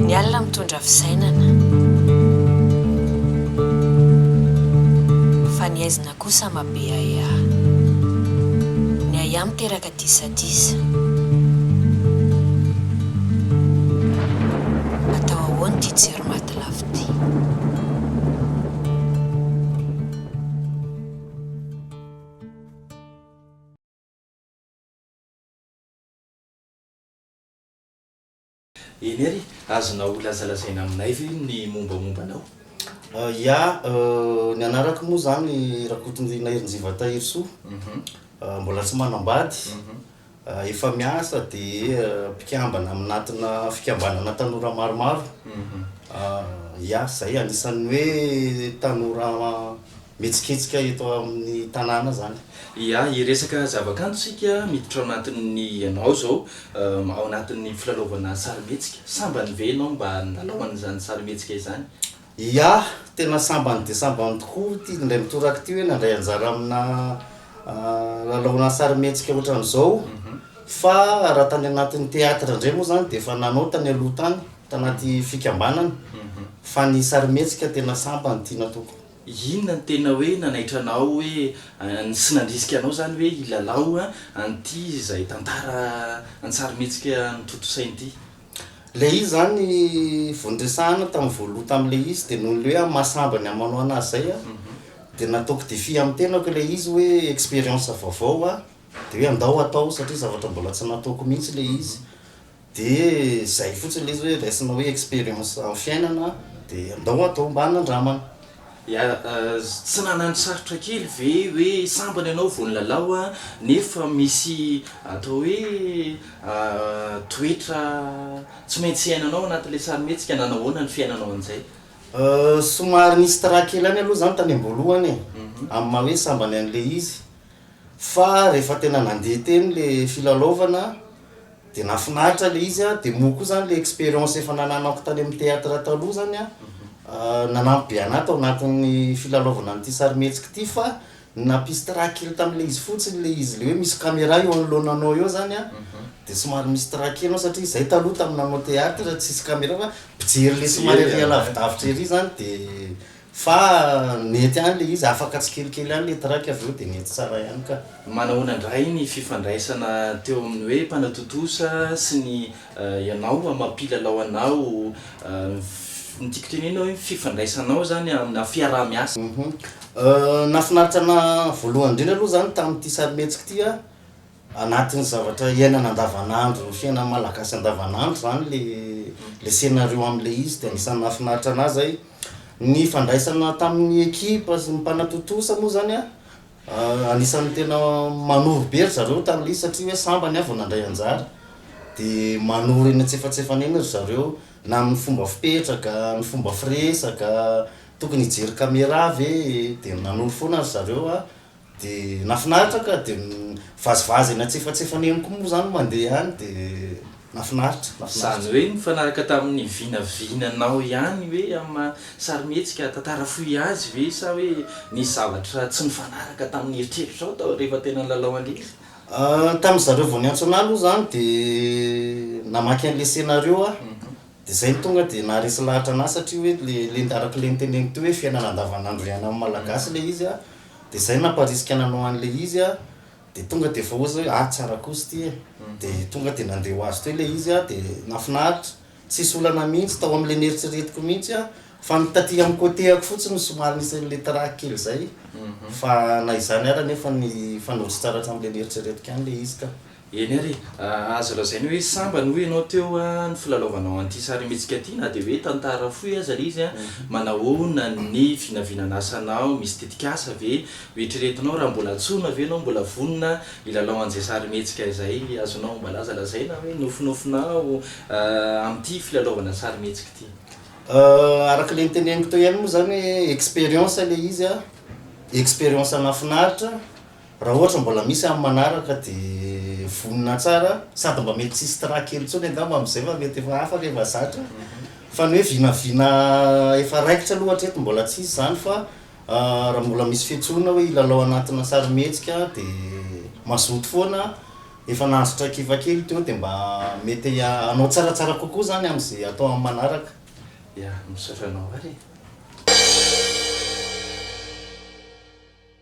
Ny alina mitondra fisainana, fa ny haizina kosa mabeaeaha. Ny ahiahy miteraka disadisa. Atao ahoana ity jiro maty lafo ity? Eny ary, azonao holazalazaina aminay ve ny mombamomba anao? Ya, ny anarako moa izany Rakotonirina Herinjiva Tahirisoa, mbola tsy manambady, Efa miasa dia mpikambana aminatina fikambanana tanora maromaro iah, izay anisan'ny hoe tanora mihetsiketsika eto amin'ny tanàna izany. Iah, hiresaka zavakanto isika miditra ao anatin'ny ianao izao ao anatin'ny filalaovana sarimihetsika. Sambany ve ianao mba nilalao an'izany sarimihetsika izany? Iah, tena sambany dia sambany tokoa ity indray mitoraka ity hoe nandray anjara amina lalaonana sarimihetsika ohatran'izao. Fa raha tany anatin'ny théâtre indray moa izany dia efa nanao tany aloha tany, tanaty fikambanana. Fa ny sarimihetsika tena sambany ity nataoko. Inona no tena hoe nanaitra anao hoe sy nandrisika anao izany hoe hilalao an'ity izay tantara an-tsarimihetsika notontosainy ity? Ilay izy izany vao niresahana tamin'ny voaloha tamin'ilay izy dia noho ilay hoe mahasamba ny amin'ny manao an'azy izay aho dia nataoko défi amin'ny tenako ilay izy hoe expérience vaovao hoa dia hoe andao hatao satria zavatra mbola tsy nataoko mihitsy ilay izy dia izay fotsiny ilay izy hoe raisina hoe expérience amin'ny fiainana dia andao hatao mba hanandramana. Tsy nanano sarotra kely ve hoe sambany ianao vao nilalao an, nefa misy atao hoe toetra tsy maintsy iainanao anatin'ilay sarimihetsika, nanahoana ny fiainanao an'izay? Somary nisy trac kely ihany aloha izany tany am-boalohany e, amin'ny maha hoe sambany an'ilay izy, fa rehefa tena nandeha teny ilay filalaovana Dia nahafinaritra ilay izy dia moa koa izany ilay expérience efa nananako tany amin'ny théâtre taloha izany nanampy be anah tao anatin'ny filalaovana an'ity sarimihetsika ity fa ny nampisy trac kely tamin'ilay izy fotsiny ilay izy ilay hoe misy camera eo anoloananao eo izany an, dia somary misy trac kely ao satria izay taloha tamin'ny nanao théâtre tsisy camera fa mpijery ilay somary ary lavidavitra ery izany dia Fa mety any le izy, afaka tsikelikely any le track avy eo de mety tsara ihany ka. Manahoana indray ny fifandraisana teo amin'ny hoe mpanao tontosa sy ny ianao amin'ny maha mpilalao anao? Ny tiako tenenina hoe ny fifandraisanao zany amina fiaraha miasa. Nahafinaritra anah voalohany indrindra aloha zany tamin'ity sarimihetsika ity an, Anatin'ny zavatra iainana andavanandro, ny fiainan'ny Malagasy andavanandro izany le le scénario amin'ilay izy dia anisan'ny nahafinaritra anah zay. Ny ifandraisana tamin'ny ekipa sy ny mpanatontosa moa zany an, anisan'ny tena manoro be ry zareo tamin'ilay izy satria hoe sambany aho vao nandray anjara, dia manoro eny antsefatsefany eny ry zareo na amin'ny fomba fipetraka, ny fomba firesaka, tokony hijery camera ve e, dia nanoro foana ry zareo an. De nafinaritra ka de mivazivazy eny antsefatsefany eny koa moa zany mandeha any de nafinaritra, nafinaritra. Zany hoe nifanaraka tamin'ny vinavinanao ihany ve amin'ny maha sarimihetsika tantara fohy azy ve sa hoe nisy zavatra tsy nifanaraka tamin'ny eritreritrao tao rehefa tena nilalao an'ilay. Tamin'ny zareo vao niantso anah aloha zany de namaky an'ilay scénario aho de zay no tonga de naharesy lahatra anah satria hoe le le araka le noteneniko teo hoe fiainana andavan'andro iainan'ny malagasy ilay izy a. de zay namparisika nanao an'le izy a de tonga de efa ozy hoe ah tsara kosa ity e de tonga de nandeha ho azy teo le izy a de nafinaritra tsisy olana mihitsy tao am'le neritreretiko mihitsy a fa ny taty am cote-ako fotsiny no somary nisy an'le trac kely zay fa na izany ara nefa nifanolotra tsara hatram'le neritreretiko ihany le izy ka. Eny ary, azo lazaina hoe sambany hoy ianao teo ny filalaovanao an'ity sarimihetsika ity na dia hoe tantara fohy aza ilay izy. Manahoana ny vinavinan'asanao? Misy tetikasa ve ho eritreretinao raha mbola antsoina ve ianao mbola vonona hilalao an'izay sarimihetsika izay? Azonao mba laza lazaina hoe nofinofinao amin'ity filalaovana sarimihetsika ity? Araka ilay noteneniko teo ihany moa izany hoe expérience ilay izy, expérience nahafinaritra Raha ohatra mbola misy amin'ny manaraka dia vonona tsara sady mba mety tsy hisy tra kely intsony angamba amin'izay fa mety efa hafa rehefa zatra fa ny hoe vinavina efa raikitra aloha hatreto mbola tsy hisy izany fa raha mbola misy fiantsoana hoe hilalao anatina sarimihetsika dia mazoto foana efa nahazo traikefa kely teo dia mba mety hanao tsaratsara kokoa izany amin'izay atao amin'ny manaraka. Ya, misaotra anao ary e.